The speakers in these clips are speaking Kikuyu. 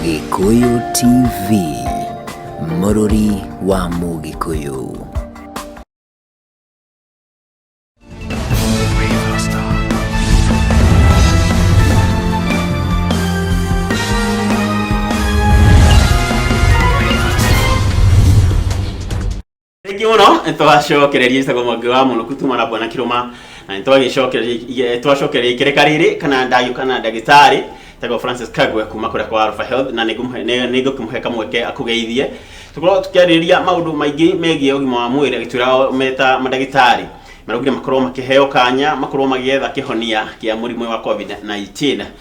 Gĩkũyũ TV, mũrũri wa Mũgĩkũyũ. Thengi muno twacokereria isago mwangi wa munuku tuma na bwana kiruma na nitwagicokereria twacokereria ikereka riri kana ndayu kana ndagitari tego Francis Kagwe kuma kuria kwa Alpha Health na nigukimuhe kamweke akugeithie tukorwo tukiarĩrĩria maundu maingi megie ugima wa mwiri agitwira meta madagitari maraugire makorwo makiheo kanya makorwo magietha kihonia kia murimu wa covid 19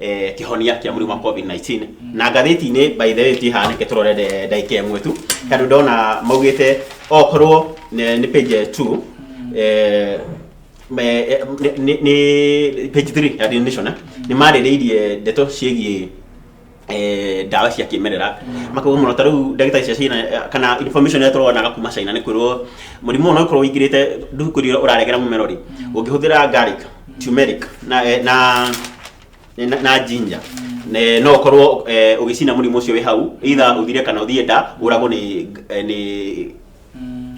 eh, kihonia kia murimu wa covid 19 na ngathĩti-inĩ by the way ti haneke tũrore nde- ndagĩka ĩmwe tu tondũ ndona maugĩte okorwo nĩ nĩ page 2 eh, me- eh, nĩ- nĩ- nĩ page 3 ya Daily Nation eh, nĩ marĩrĩirie ndeto ciĩgiĩ eh, ndawa cia kĩmerera makauga mũno ta rĩu ndagĩtarĩ cia China eh, kana information ĩrĩa tũronaga kuma China nĩ kwĩrwo mũrimũ ũyũ no ũkorwo ũingĩrĩte ndũkũrio ũraregera mũmero rĩ ũngĩhũthĩra garlic turmeric na eh, na na, na ginger ne no korwo eh, ugicina murimu ucio wi hau itha uthire kana uthie nda uragwo ni eh, ni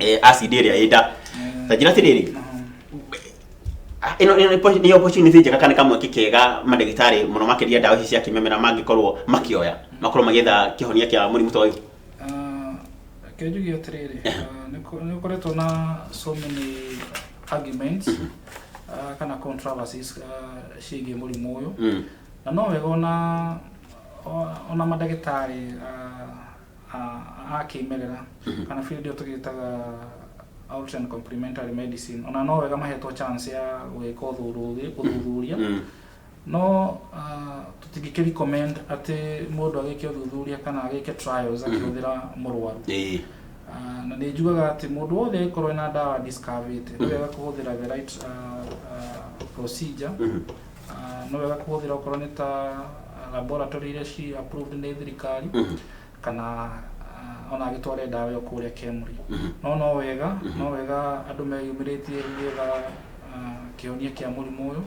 eh, acid iria ĩ nda ta njira tiriri Ah, ino ino nĩ- nĩ opportunity njega kana kamwe kikega mandagĩtarĩ mũno makĩria ndawa ici cia kĩmemera mangĩkorwo makĩoya makorwo magĩetha kĩhonia kĩa mũrimũ ta ũyũ Reke njuge atĩrĩrĩ, nĩ ũkoretwo na so many arguments mhm. ah, kana controversies ah, ciĩgiĩ mũrimũ ũyũ mm. na no wega ona ona mandagĩtarĩ ah, a kĩmerera mhm. kana field ĩyo tũgĩtaga out and complementary medicine ona no wega mahetwo chance ya gwĩka ũthuthuria mm. No tũtingĩ kĩ recommend atĩ mũndũ agĩke ũthuthuria kana agĩke trials mhm. akĩhũthĩra mũrwaru ah, na nĩ njugaga atĩ mũndũ wothe angĩkorwo na ndawa discoverĩte nĩ mhm. wega kũhũthĩra the right ah, ah, procedure mhm. nĩ wega kũhũthĩra okorwo nĩ ta laboratory iria ci approved nĩ thirikari kana ah, ona agĩtware ndawa ĩyo kũrĩa kemri no no wega no wega andũ meyumĩrĩtie nĩgetha ah, kĩhonia kĩa mũrimũ ũyũ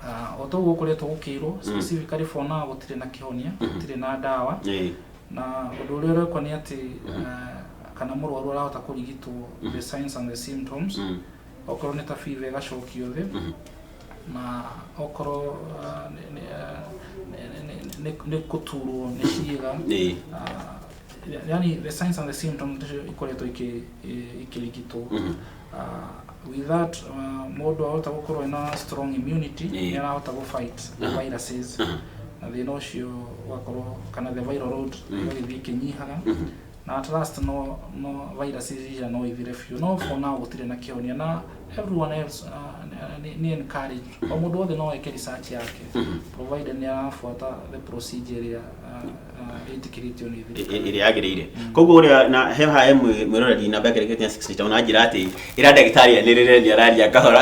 Ah, o toguo gũkoretwo gũkĩirwo specifically for now gũtirĩ na kĩhonia gũtirĩ na ndawa Ĩĩ. na ũndũ ũrĩa ũrekwo nĩ atĩ ah, kana mũrwaru arahota kũrigitwo the signs and the symptoms Mm. okorwo nĩ ta fever ĩgacokio thĩ na okorwo ah, nĩ- nĩ, ah, nĩ- nĩ- nĩ- nĩ- nĩ kũturwo nĩ ciĩga Ĩĩ. ah, yani the signs and the symptoms nĩcio ikoretwo ikĩ- i- ikĩrigitwo Mhm. Ah, with that ah, mũndũ ahota gũkorwo ena strong immunity Ĩĩ. nĩ arahota gũ fight the Aha. viruses Aha. na thĩna ũcio ũgakorwo kana the viral load Mhm. ĩgagĩthiĩ ĩkĩnyihaga Mhm. Na at last no no virus iria no ithire biũ no for now gũtirĩ na kĩhonia na everyone else uh, ni, ni encourage o mũndũ wothe no eke research yake provided nĩ arafuata the procedure ĩrĩa uh, uh, ĩtĩkĩrĩtio nĩ thirikari ĩrĩa yagĩrĩire koguo ũrĩa na he hae mwĩroreri namba yake rĩkĩtie 60 na njĩra atĩ ĩra ndagĩtarĩ anĩrĩre nĩ araria kahora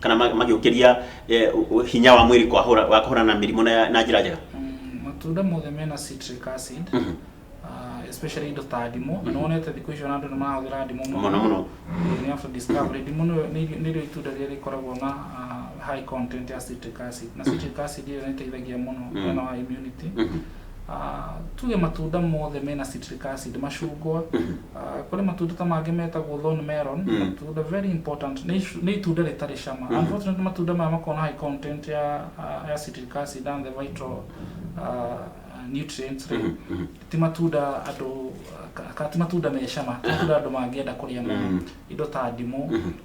kana ma- magĩũkĩria eh, ũ- ũ- hinya wa mwĩrĩ kwahũra- wa kũhũrana na mĩrimũ na na njĩra njega Mm, matunda mothe mena citric acid Mhm. ah, especially indo ta ndimũ na nĩwonete thikũ icio na andũ nĩ marahũthĩra ndimũ mũno mũno They have discovery ndimũ nĩyo- nĩ- nĩrĩo itunda rĩrĩa rĩkoragwo na ah, high content ya citric acid na citric acid ĩyo nĩ ĩteithagia mũno Mm. mwena wa immunity Mhm. Ah, tuge matunda mothe mena citric acid macungwa Ah, kũrĩ matunda ta mangĩ metagwo thorn melon Mm. matunda very important nĩ icu- nĩ itunda rĩtarĩ cama Mhm. unfortunately matunda maya makoragwo na high content ya ah, ya citric acid and the vital ah, nutrients rĩ Mhm, mhm, ti matunda andũ ka- ka- ti matunda me cama ti matunda andũ mangĩenda kũrĩa mũno mhm, indo ta ndimũ mhm,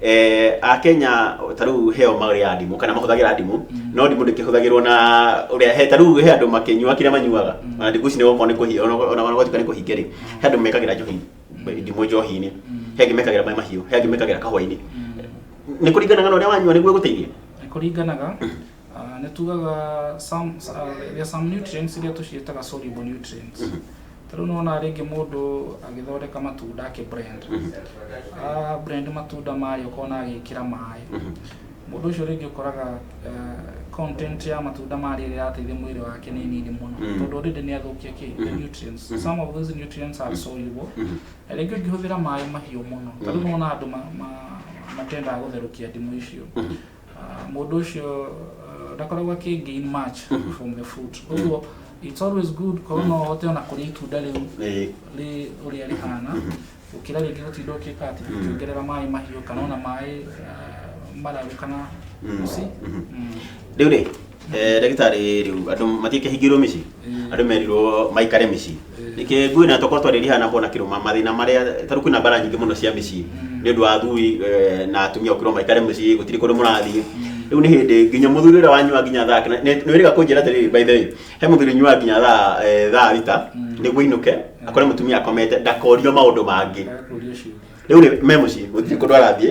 Eh, akenya ta rĩu heo marĩaga ndimũ kana mahũthagĩra ndimũ no ndimũ ndĩkĩhũthagĩrwo na ũrĩa he ta rĩu he andũ makĩnyua kĩrĩa manyuaga ona ndimũ ici nĩ gũkorwo nĩ kũhi ona ona- ona gwatuĩka nĩ kũhinge rĩ he andũ mekagĩra njohi ndimũ njohi-inĩ he angĩ mekagĩra maĩ mahiũ he angĩ mekagĩra kahũa-inĩ nĩ kũringanaga na ũrĩa wanyua nĩguo ĩgũteithie Nĩ kũringanaga Nĩ tugaga some, uh, there some nutrients iria tũciĩtaga soluble nutrients ta rĩu nĩwona rĩngĩ mũndũ agĩthondeka matunda akĩ brand a brand matunda mayo ũkona agĩkĩra maĩ mũndũ ũcio rĩngĩ ũkoraga eh, content ya matunda marĩa ĩrĩa ĩrateithia mwĩrĩ wake nĩ nini mũno tondũ already nĩ athũkia kĩ the nutrients some of those nutrients are soluble na rĩngĩ ũngĩhũthĩra maĩ mahiũ mũno ta rĩu nĩwona andũ ma- ma- matendaga gũtherũkia ndimũ icio Ah, mũndũ ũcio uh, ndakoragwo akĩ gain much from the fruit ũguo it's always good korwo no ũhote ona kũrĩa itunda rĩu Eh, rĩ ũrĩa rĩhana gũkĩra rĩngĩ gũtinda ũkĩka atĩ ũkĩongerera maĩ mahiũ kana ona maĩ ah, mararu kana usi Mm. rĩu rĩ Eh, ndagĩtarĩ rĩu andũ matikĩhingĩrwo mĩciĩ andũ merirwo maikare mĩciĩ nĩkĩ ngui na tokorwo twarĩria hana kona kĩrũma mathĩna marĩa tarĩu kwĩna mbara nyingĩ mũno cia mĩciĩ nĩ ũndũ wa athuri eh, na atumia gũkĩrwo maikare mũciĩ gũtirĩ kũndũ mũrathiĩ rĩu nĩ hĩndĩ nginya mũthuri ũrĩa wanyua nginya thaa kĩna- nĩ- nĩwĩrĩga kũnjĩra atĩrĩrĩ by the way he mũthuri nyua nginya thaa eh, thaa thita nĩguo ainũke akore mũtumia akomete ndakorio maũndũ mangĩ Ndakũria ciũria. rĩu rĩ me mũciĩ gũtirĩ kũndũ arathiĩ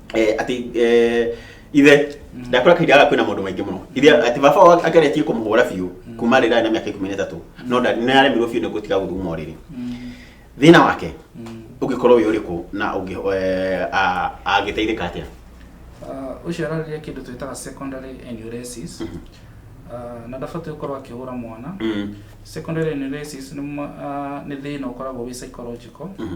eh, atĩ eh, ithe ndakora kahinda gaka kwĩna maũndũ maingĩ mũno ithe atĩ baba wao ageretie kũmũhũra biũ kuma rĩrĩa arĩ na mĩaka ikũmi na ĩtatũ no nda- nĩ aremirwo biũ nĩ gũtiga gũthuguma o rĩrĩ thĩna wake ũngĩkorwo wĩ ũrĩkũ na ũngĩ eh, a- angĩteithĩka atĩa Uh, ũcio ararĩria kĩndũ twĩtaga secondary enuresis uh, na ndabatiĩ gũkorwo akĩhũra mwana Mm. secondary enuresis nĩ ma- ah, nĩ thĩna ũkoragwo wĩ psychological Mhm.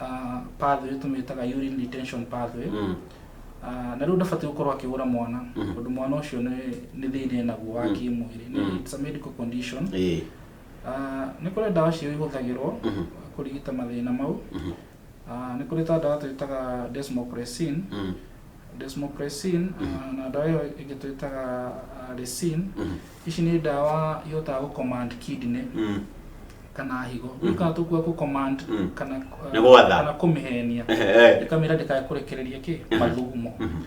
ah, pathway tũmĩtaga urine retention pathway Mm. Ah, na rĩu ndabatiĩ gũkorwo akĩhũra mwana Mhm. tondũ mwana ũcio nĩ nĩ thĩna enaguo wa Mhm. kĩmwĩrĩ Nĩ- Mhm. it's a medical condition Ĩĩ. Ah, nĩ kũrĩ ndawa cio ihũthagĩrwo Mhm. kũrigita mathĩna mau Mhm. Ah, nĩ kũrĩ ta ndawa twĩtaga desmopressin Mm. desmopressin ah, na ndawa ĩyo ĩngĩ twĩtaga ah, resin Mhm. Ici nĩ ndawa ihotaga gũ command kidney Mm. kana higo. Gũkaga tũkua gũ command Mm. kana Nĩ gwatha. kana kũmĩhenia. Ehe. Ĩkamĩra ndĩkae kũrekereria kĩ Mhm. mathugumo. Mhm.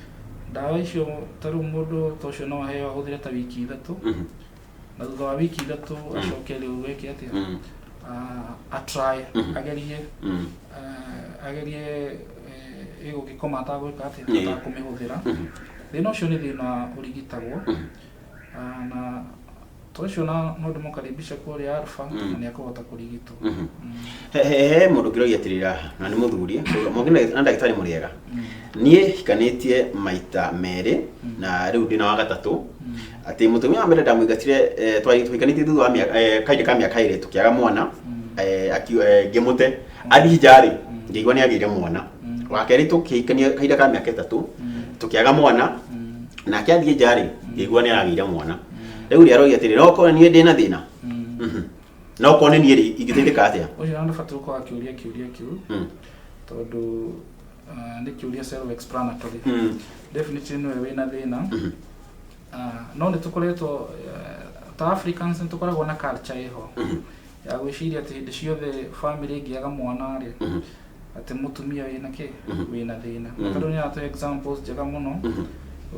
Ndawa icio ta rĩu mũndũ ta ũcio no aheo ahũthĩre ta wiki ithatũ Mhm. na thutha wa wiki ithatũ acoke rĩu eke atĩa? Mm. Ah, a try Mhm. agerie Mm. ah, agerie eh, ĩgũgĩkoma atagwĩka atĩa Ĩĩ. atakũmĩhũthĩra. Mhm. Thĩna ũcio nĩ thĩna ũrigitagwo. Mhm. Ah, na to ũcio na no ndĩmũkaribisha kũrĩa alfa Mm. na nĩ akũhota kũrigitwo Mhm. Mm. He- he he mũndũ ngĩroria atĩrĩra haha na nĩ mũthuri mũngĩ na ndagĩtarĩ mũrĩega Mm. niĩ hikanĩtie maita merĩ Mm. na rĩu ndĩ na wa gatatũ Mm. atĩ mũtumia wa mbere ndamũingatire eh, twari- twahikanĩtie thutha wa mĩaka- eh, kahinda ka mĩaka ĩrĩ tũkĩaga mwana Mm. eh, aki- eh, ngĩmũte athiĩ njarĩ Mm. ngĩigua nĩ agĩire mwana Mm. wa kerĩ tũkĩhikania kahinda ka mĩaka ĩtatũ Mm. tũkĩaga mwana Mm. nake athiĩ nja rĩ ngĩigua nĩ aragĩire mwana rĩu rĩ aroria atĩrĩ no korwo niĩ ndĩna thĩna Mm. Mhm. no korwo nĩ niĩ rĩ ingĩteithĩka atĩa Ũcio nĩ ũbatiĩ gũkorwo akĩũria kĩũria kĩu Mm. tondũ ah, nĩ kĩũria self explanatory. Mm. Definitely nĩwe wĩna thĩna. Mhm. Ah, no nĩ tũkoretwo eh, ta Africans nĩ tũkoragwo na culture ĩho. ya gwĩciria atĩ hĩndĩ ciothe family ĩngĩaga mwana rĩ atĩ mũtumia wĩna kĩ wĩna thĩna tondũ nĩ atũ examples njega mũno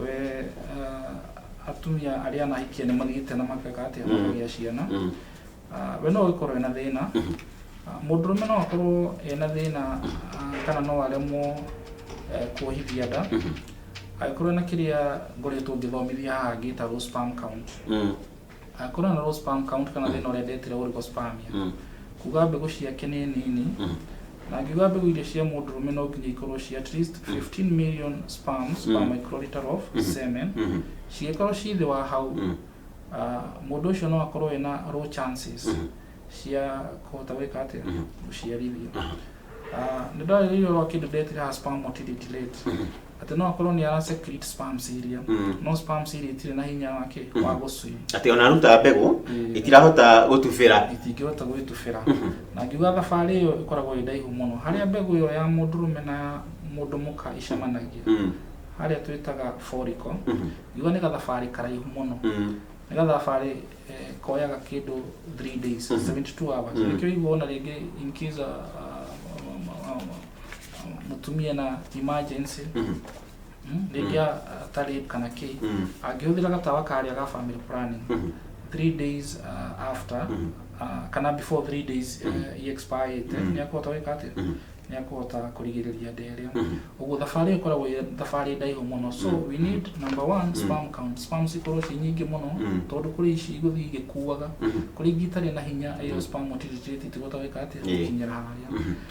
we uh, atumia arĩa anahikia nĩ mathiĩte na makeka atĩ makagĩa ciana Ah, we no ũgĩkorwo wĩna thĩna Ah, mũndũrũme no akorwo ena thĩna ah, kana no aremwo eh, kuohithia nda angĩkorwo na kĩrĩa ngoretwo ngĩthomithia haha gĩtagwo sperm count Angĩkorwo na low sperm count kana thĩna ũrĩa ndetire oligospermia, Mm. kuga mbegũ ciake nĩ nini, Mm. na ngiuga mbegũ iria cia mũndũrũme no nginya ikorwo ci at least 15 million sperms per Mm. microliter of Mhm. semen. Mhm. Cingĩkorwo ci thĩ wa hau, Mm. ah, mũndũ ũcio no akorwo ena low chances Mhm. cia kũhota gwĩka atĩa Mhm. gũciarithia. Aha. Ah, Nĩ ndarĩrĩirio ũhoro wa kĩndũ ndetire haha sperm motility rate. atĩ no akorwo nĩ ara secrete sperm cilia Mm. no sperm cilia itirĩ na hinya wake Mhm. wa gũcwim atĩ ona aruta mbegũ Mm. itirahota gũtubĩra itingĩhota gwĩtubĩra Mhm. na ngiuga thabarĩ ĩyo ĩkoragwo ĩ ndaihu mũno harĩa mbegũ ĩyo ya mũndũrũme na ya mũndũ mũka icemanagia Mm, harĩa twĩtaga foriko mhm, ngiuga nĩ gathabarĩ karaihu mũno mm, nĩ gathabarĩ eh, koyaga kĩndũ 3 days Mhm. 72 hours Mhm. nĩkĩo iguona rĩngĩ in case uh, uh, um, um, mutumia na emergency Mhm. mm, rĩrĩa atarĩ kana kĩ Mhm. angĩhũthĩra gatawa karĩa ga family planning Mhm. three days uh, after Mhm. uh, kana before three days uh, Mhm. iexpirete Mhm. nĩ akũhota gwĩka atĩ Mhm. nĩ akũhota kũrigĩrĩria nda ĩrĩa Mhm. ũguo thabarĩ ĩkoragwo ĩ thabarĩ ndaihu mũno so Mhm. we need number one Mhm. sperm count sperm cikorwo ci nyingĩ mũno Mhm. tondũ kũrĩ ici igũthiĩ igĩkuaga Mhm. kũrĩ ingĩ itarĩ na hinya ĩyo Mhm. sperm motility tigũhota gwĩka atĩ Ĩĩ. gũkinyĩra harĩa Mhm.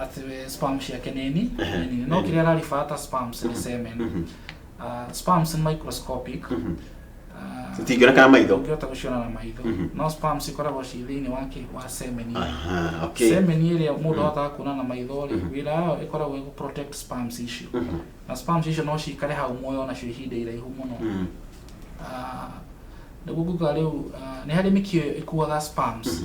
ati we spam ciake nini nini no kiria araribata spams ni semen Ah, spams ni microscopic Ah, Citingĩona kana maitho. ndũngĩhota gũciona na maitho no spams ikoragwo ci thĩinĩ wa kĩ wa semeni Aha, okay. semeni ĩrĩa mũndũ ahotaga kuona na maitho rĩ wĩra wayo ĩkoragwo ĩgũ protect spams icio na spams icio no cikare hau muoyo nacio ihinda iraihu mũno Mm. Ah, nĩguo nguga rĩu ah, nĩ harĩ mĩkiũ ĩkuaga spams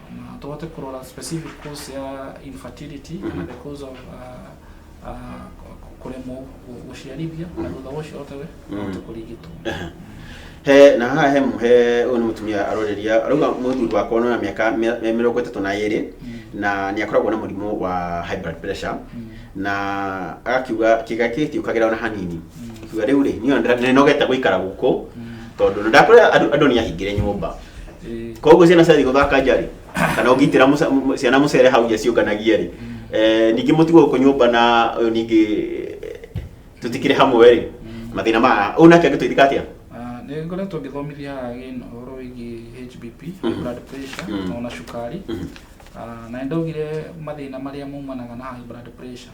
Na tũhote kũrora specific cause ya infertility kana the cause of uh, uh, kũremwo gũ- gũciarithia na thutha wa ũcio otawe ahote kũrigitwo he na haha he he ũyũ nĩ mũtumia aroreria arauga mũthuri wakwa nĩ wa mĩaka mĩ- mĩ- mĩrongo ĩtatũ na ĩrĩ na nĩ akoragwo na mũrimũ wa high blood pressure na agakiuga kĩga kĩtiũkagĩra ona hanini akiuga rĩu rĩ niĩ ona ndĩra- nĩnogete gũikara gũkũ tondũ na ndakora andũ andũ nĩ ahingĩre nyũmba koguo ciana ciathiĩ gũthaka nja rĩ kana ũngĩitĩra mũca- mũ- ciana mũcere hau nja ciũnganagie rĩ Eh, ningĩ mũtugo gũkũ nyũmba na ũyũ ningĩ tũtikĩrĩ hamwe rĩ mathĩna ma ũyũ nake angĩtũithika atĩa Ah, nĩ ngoretwo ngĩthomithia haha again ũhoro wĩgiĩ HBP, Mhm. blood pressure, Mhm. na ona cukari. Mhm. Ah, na nĩ ndaugire mathĩna marĩa maumanaga na high blood pressure.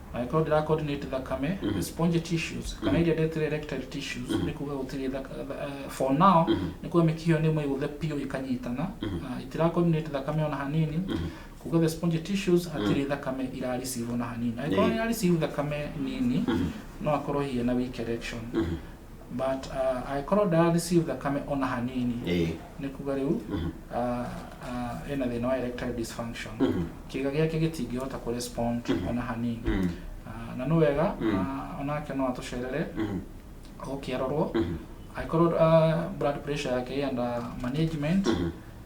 Angĩkorwo ndĩra coordinate thakame, spongy tissues, kana iria ndetire erectile tissues, nĩ kuga gũtirĩ thaka- tha- eh, for now, nĩ kuga mĩkiha ĩyo nĩ mĩgũthe biũ ĩkanyitana, na itira coordinate thakame ona hanini, kuga the spongy tissues hatirĩ thakame ira receive ona hanini. Angĩkorwo Nĩ. nĩ ira receive thakame nini, no akorwo hihi ena weak erection. but uh, angĩkorwo ndara receive thakame ona hanini ĩĩ nĩ kuga rĩu Mhm. uh, uh, ena thĩna wa erectile dysfunction Mhm. kĩga gĩake gĩtingĩhota kũ respond Mhm. ona hanini Mm. Ah, na nĩ wega Mm. ah, onake no atũcerere Mhm. gũkĩarorwo Mhm. angĩkorwo ah, blood pressure yake ĩenda management Mhm.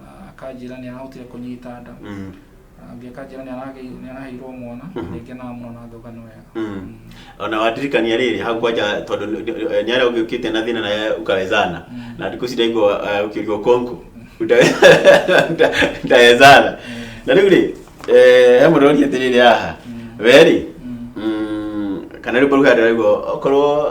Ah, akanjĩra nĩ arahotire kũnyita nda Mm. Ah, ũngĩ akanjĩra nĩ aragĩ- nĩ araheirwo mwana rĩngĩ na mũno na ngauga nĩ wega Mm. Mm. ona wandirikania rĩrĩ hau kwanja tondũ nĩ arĩa ũngĩ ũkĩte na thĩna naye ukawezana na ndikũ ciraigua ũkĩũrio konku ndawezana na rĩu rĩ eh, he mũndũ ũroria atĩrĩrĩ haha we rĩ mm, kana rĩu mbaruga ndĩraigua okorwo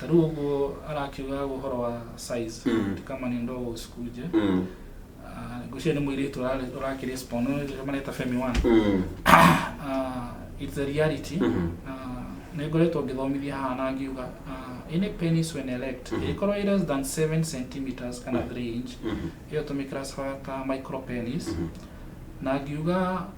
ta rĩu ũguo arakiuga ũhoro wa size Mm. ti kama nĩ ndogo cikunje Mm. Ah, ngwĩciria nĩ mũirĩtu ũrarĩ- ũrakĩrespond no nĩ mareta femi one Mm. Ah, it's the reality Mhm. Ah, nĩ ngoretwo ngĩthomithia haha na ngiuga ah, any penis when erect Mhm. ĩkorwo ĩ less than 7 centimeters kana 3 inch Mhm. ĩyo tũmĩclassify ta micro penis Mhm. na ngiuga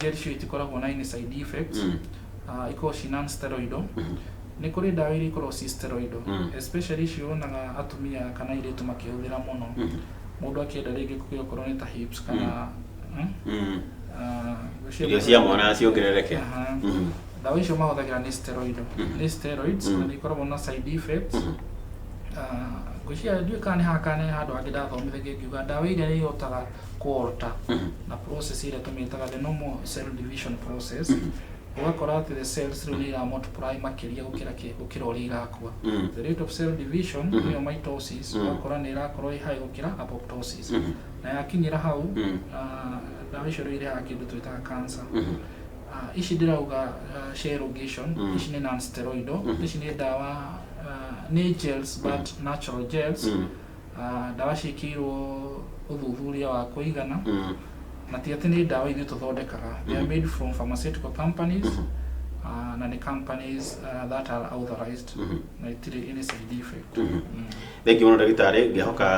Gel cio itikoragwo na any side effects. Mm. Uh, ikoragwo ci non-steroidal. Nĩ kũrĩ ndawa iria ikoragwo ci steroidal. Mm. Especially icio wonaga atumia kana airĩtu makĩhũthĩra mũno. Mũndũ akĩenda rĩngĩ kũgĩa okorwo nĩ ta hips kana mm. Mm. Uh, cio- irio cia mwana ciongerereke Aha. Mhm. ndawa icio mahũthagĩra nĩ steroidal nĩ steroids na nĩ ikoragwo na side effects Ah, ngwĩciria ndiũĩ kana nĩ haha kana nĩ handũ hangĩ ndathomithagia ngiuga ndawa iria nĩ ihotaga quarter na process ĩrĩa tũmĩtaga the normal cell division process ũgakora atĩ the cells rĩu nĩ ira multiply makĩria gũkĩra kĩ gũkĩra ũrĩa irakua the rate of cell division nĩyo mitosis ũgakora nĩ ĩrakorwo ĩ high gũkĩra apoptosis na yakinyĩra hau ah, ndawa icio rĩu irehaga kĩndũ twĩtaga cancer Ah, ici ndĩrauga ah, share rogation ici nĩ non steroidal ici nĩ ndawa ah, nĩ gels but natural gels Ah, ndawa ciĩkĩirwo ũthuthuria wa kũigana Mm. na ti atĩ nĩ ndawa ithuĩ tũthondekaga they are made from pharmaceutical companies ah, na nĩ companies ah, that are authorized na itirĩ any side effect Mm. thengi mũno ndagĩtarĩ ngĩhoka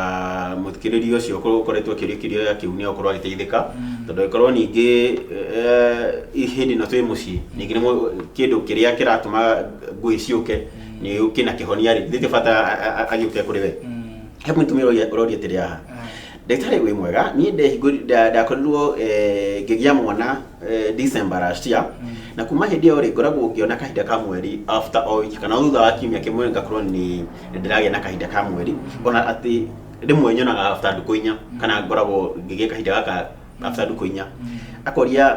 mũthikĩrĩria ũcio ũkorwo ũkoretwo akĩrĩkĩrio ya kĩu nĩ akorwo agĩteithĩka tondũ angĩkorwo ningĩ eh, hĩndĩ ĩno twĩ mũciĩ ningĩ nĩ mũ- kĩndũ kĩrĩa kĩratũma ngũĩ ciũke nä å kä na kä honia rä ndä tä bata agä å ke kå rä we he må tumä å roria atä rä haha ndagĩtarĩ wĩ mwega niĩ ndehingũri- nda- ndakorirwo eh, ngĩgĩa mwana eh, December last year na kuma hĩndĩ ĩyo rĩ ngoragwo ngĩona kahinda ka mweri after o wiki kana o thutha wa kiumia kĩmwe ngakorwo nĩ nĩ ndĩragĩa na kahinda ka mweri ona atĩ rĩmwe nyonaga after ndukũ inya kana ngoragwo ngĩgĩa kahinda gaka after ndukũ inya akoria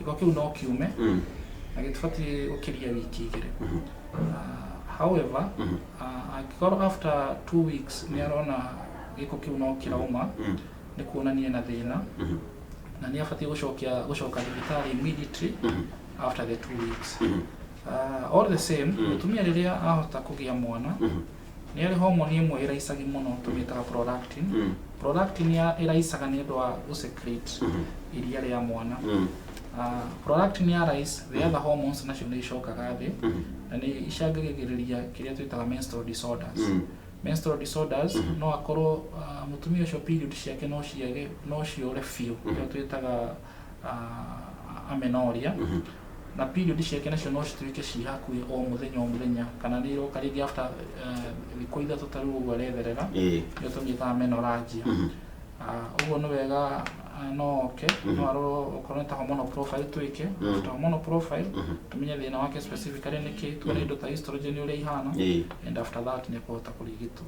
gĩko kĩu no kiume Mm. na gĩtibatiĩ gũkĩria wiki igĩrĩ Mhm. Ah, however Mhm. ah, angĩkorwo after two weeks nĩ arona gĩko kĩu no kĩrauma Mm. nĩ kuonania na thĩna Mhm. na nĩ abatiĩ gũcokia gũcoka thibitarĩ immediately Mhm. after the two weeks Mhm. Ah, all the same Mm. mũtumia rĩrĩa ahota kũgĩa mwana Mhm. Nĩ harĩ homoni ĩmwe ĩraicagia mũno tũmĩtaga prolactin. Mm. Prolactin ya- ĩraicaga nĩ ũndũ wa gũsecrete iria rĩa mwana. Ah, prolactin ya rise, the other hormones nacio nĩ icokaga thĩ na nĩ icangagĩrĩria kĩrĩa twĩtaga menstrual disorders. Mm. Menstrual disorders no akorwo ah, mũtumia ũcio period ciake no ciage no ciũre biũ nĩyo twĩtaga ah, amenoria Mhm. na period ciake nacio no cituĩke ci hakuhĩ o mũthenya o mũthenya kana nĩ iroka rĩngĩ after eh, thikũ ithatũ ta rĩu ũguo aretherera Ĩĩ. nĩo tũmĩtaga menoranjia Mhm. Ah, ũguo nĩ wega ah, no oke Mhm. no arorwo okorwo nĩ ta hormonal profile twĩke Mhm. after hormonal profile Mhm. tumenye thĩna wake specifically nĩkĩ tuone indo ta estrogen ũrĩa ihana Ĩĩ. and after that nĩ kũhota kũrigitwo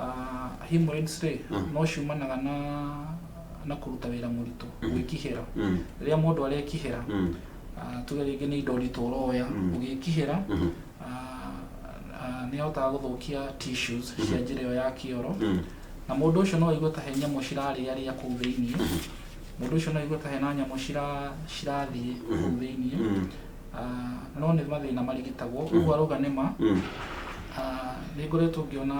Ah, hemorrhoids rĩ Mm. no ciumanaga na na kũruta wĩra mũritũ Mhm. gwĩkihĩra Mm. rĩrĩa mũndũ arekihĩra Mm. ah, tuge rĩngĩ nĩ indo nditũ ũroya Mm. ũgĩkihĩra Mhm. ah, ah, nĩ ahotaga gũthũkia tissues Mhm. cia njĩra ĩyo ya kĩoro Mm. na mũndũ ũcio no aigue ta he nyamũ cirarĩarĩa kũu thĩinĩ mũndũ ũcio no aigue ta hena nyamũ cira- cirathiĩ kũu thĩinĩ Mm. ah, no nĩ mathĩna marigitagwo mm. ũguo arauga nĩ ma mm. ah, nĩ ngoretwo ngĩona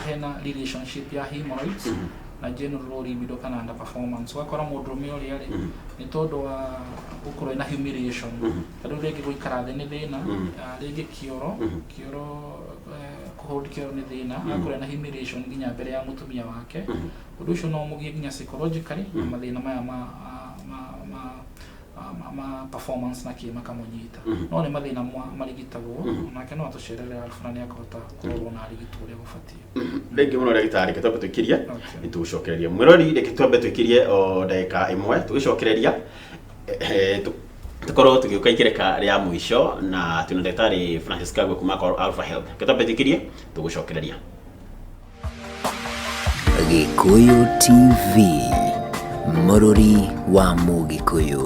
hena relationship ya hemorrhoids mm -hmm. na general libido kana under performance wakora mũndũ ũmwe ũrĩa rĩ mm -hmm. nĩ tondũ wa gũkorwo na humiliation mm -hmm. tondũ rĩngĩ gũikara thĩ nĩ thĩna mm -hmm. Ah, rĩngĩ kĩoro mm -hmm. kĩoro eh, kũhold kĩoro nĩ thĩna mm -hmm. akorwo na humiliation nginya mbere ya mũtumia wake mm -hmm. ũndũ ũcio no mũgie nginya psychologically mm -hmm. na mathĩna maya ma ah, performance na kĩ makamũnyita Mhm. no nĩ mathĩna mwa marigitagwo Mhm. nake no atũcerere arabu na nĩ akũhota kũrorwo na arigitwo ũrĩa gũbatiĩ rĩngĩ mũno ndagĩtarĩ reke twambe twĩkirie Okay. nĩtũgũcokereria mwĩrori reke twambe twĩkirie o ndagĩka ĩmwe tũgĩcokereria eh, tũ- tũkorwo tũgĩũka ikereka rĩa mũico na twĩna ndagĩtarĩ francis kagwe kuma Cor- alpha health reke twambe twĩkirie tũgũcokereria Gĩkũyũ TV, mũrũri wa Mũgĩkũyũ.